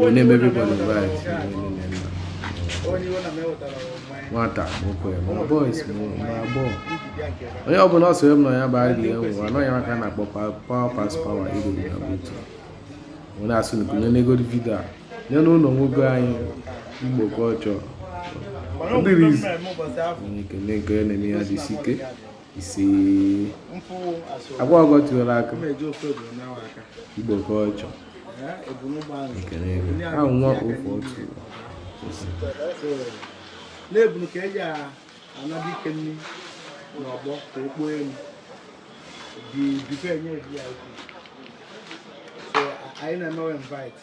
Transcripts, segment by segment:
wee na-eme everybody invite nwata nwoke ma boys ma agbọghọ onye ọbụla ọ sịrị m na ya bụ adị enwe anaghị maka na akpọ power pass power ego dị na buutu onye asị na kunye n'ego vidio a nye n'ụlọ nwoke anyị Igbo culture ndị rizi ekele nke na-eme ya dị isi ike isi agwa ọgọ tiwara aka Igbo culture ekele ego ahụ nwa ofe otu na ebunu ka eji ana dike nri n'ọgbọ ka o kpoo elu di dipee nye ya so anyị na-emewe invite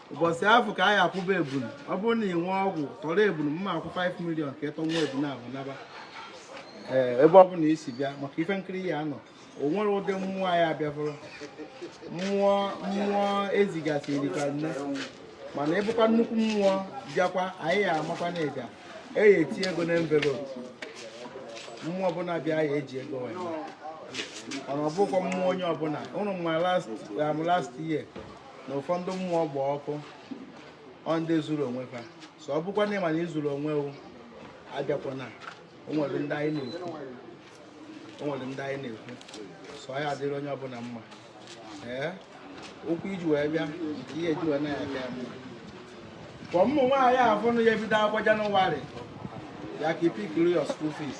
ụbọchị afụ ka anyị akwụba ebunu ọ bụrụ na ị nwee ọgwụ tọrọ ebunu mma akwụ 5 million ka ịtọ nwa ebunu ahụ naba ee ebe ọ bụla isi bịa maka ife nkiri ya anọ o nwere ụdị mmụọ anyị abịafụrụ mmụọ mmụọ ezigasị erika nne mana ịbụkwa nnukwu mmụọ bịakwa anyị ya amakwa na ịbịa eyi eti ego na envelope mmụọ ọbụla bịa ya eji ego wee mana ọ bụkwa mmụọ onye ọbụla ụnụ ma last um, last year na ụfọdụ mmụọ gba ọkụ ọ ndị zuru onwe fa so ọ bụkwa na ịma na izurọ onwe wụ abịakwana o nwere o nwere ndị anyị na-ekwu so ọ ya adịrị onye ọbụla mma ee okwu iji wee bịa nke ihe eji wee na-aka ya mma ka ụmụ nwaanyị afụnụ ya ebido akwụkwọ Janụwarị ya ka ipikiri your school fees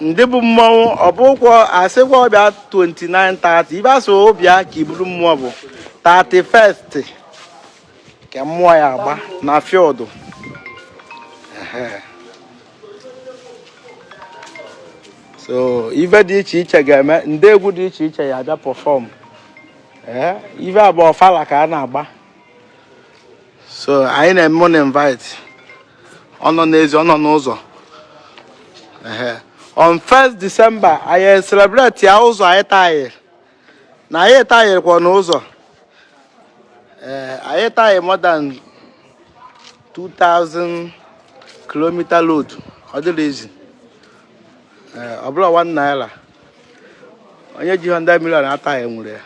ndị bu mmọnwụ ọ bụkwọ asịkwa wụ bịa 29 30 ebe asị wụ bịa ka iburu mmụọ bụ 31st ka mmụọ ya agba na field so ife dị iche iche ga-eme ndị egwu dị iche iche ya abịa perform ife a bụ ọfala ka a na-agba so anyị na-eme ụnụ invite ọ nọ n'ezi ọ nọ n'ụzọ on 1st December anyị celebrate ya ụzọ anyị tayịrị na anyị tayịrịkwanụ ụzọ ee eh, anyị tayị more than 2000 kilometer road ọ dịrọ easy eh, ọ bụrọ 1 naira onye ji 100 million atayịnwurọ ya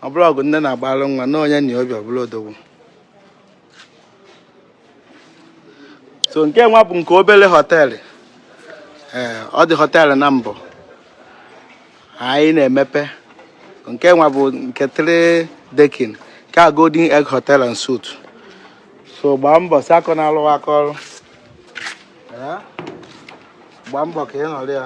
ọ bụrọ ọgwụ nne na-agbalụ nwa na onye nwee obi ọ bụlụ odogwu so nke nwa bụ nke obere hotel ee ọ dị hotel na mbụ anyị na-emepe nke nwa bụ nke three decking nke a golden egg hotel and suite so gbaa mbọ si akọ na-alụ aka ọrụ gbaa mbọ ka ị nọrọ ya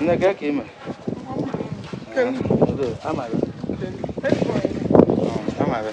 Nne kee ka i mee? Amaghị. Amaghị.